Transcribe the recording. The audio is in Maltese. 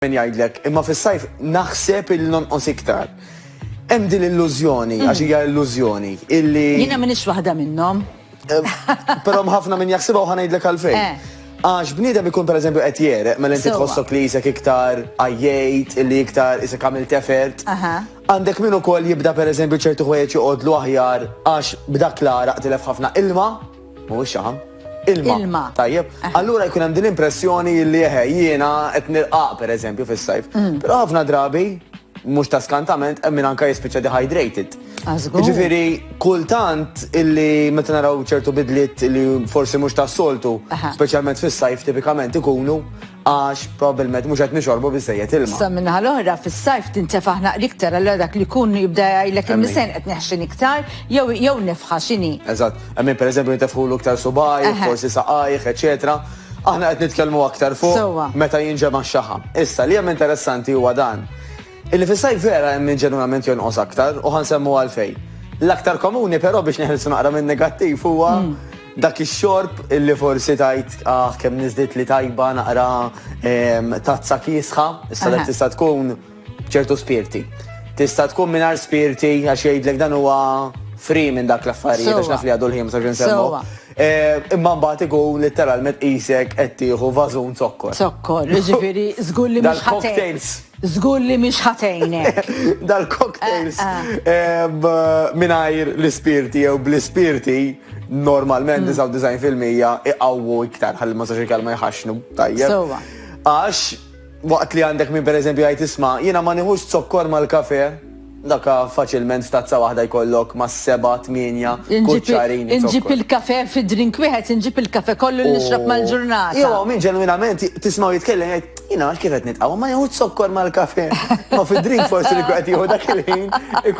min jgħidlek, imma fis-sajf naħseb il nonqos iktar. Hemm din l-illużjoni, għax hija illużjoni, illi. Jiena m'iniex waħda minnhom. Però ħafna min jaħsibha u ħanajdlek għalfejn. Eh. Għax bniedem ikun per eżempju qed jereq, mela inti tħossok li jisek iktar għajjejt, li iktar isek għamil tefert. Għandek min ukoll jibda per eżempju ċertu ħwejjeġ joqgħodlu aħjar għax b'dak l-għaraq tilef ħafna ilma. Mhuwiex xaħam? Ilma. Ilma. Tajjeb. Allura jkun hemm din l-impressjoni li eħe jiena qed nirqaq pereżempju fis-sajf. Mm. Però ħafna drabi mhux ta' skantament hemm min anke jispiċċa dehydrated. Għażgur. Ġifieri kultant illi meta naraw ċertu bidliet li forsi mhux tas-soltu, Aha. speċjalment fis-sajf tipikament ikunu għax probbilment mhux qed nixorbu biżżejjed ilma. Issa min-naħa l-oħra, fis-sajf tintefa' ħnaq l-iktar, allura dak li jkun jibda jgħidlek il-misgħen qed neħxin iktar jew jew nefħa x'inhi. Eżatt. Hemm min pereżempju jintefħulu iktar subgħajh, Eħe. forsi saqajh, eċċetera. Aħna qed nitkellmu aktar fuq Sewwa. meta jinġema' x-xaħam. Issa, li hemm interessanti huwa dan, Illi fis-sajf vera hemm min ġenwinament jonqos aktar u ħa nsemmu għalfejn. L-aktar komuni però biex neħilsu naqra min-negattiv huwa dak ix-xorb illi forsi tgħid aħ kemm niżditli tajba naqra tazza kiesħa, issa dak tista' tkun b'ċertu spirti. Tista' tkun mingħajr spirti għax jgħidlek dan huwa free minn dak l-affarijiet għax naf li għadu l-ħin msax insemmu. Imma mbagħad ikun litteralment qisek qed tieħu vażun zokkor. Zokkor, jiġifieri żgur li mhux ħa tgħin. Żgur li mhix ħa tgħinek. Dal-cocktails mingħajr l-ispirti jew bl-ispirti normalment 99% iqawwu iktar ħalli ma sax il-kelma jħaxnu tajjeb. Sewwa. Għax waqt li għandek min pereżempju jgħid isma' jiena ma nieħux zokkor mal-kafe, Dakka faċilment f'tazza waħda jkollok ma' seba', tmienja kuċċarin zokkor. Inġib il-kafè fi drink wieħed, inġib il-kafè kollu li nixrob mal-ġurnata. Jew hawn min ġenwinament tismgħu jitkellem jgħid, Jiena għalkemm qed nitqawwa ma nieħux zokkor mal-kafè. Imma fi drink forsi li jkun qed jieħu dak il-ħin ikun.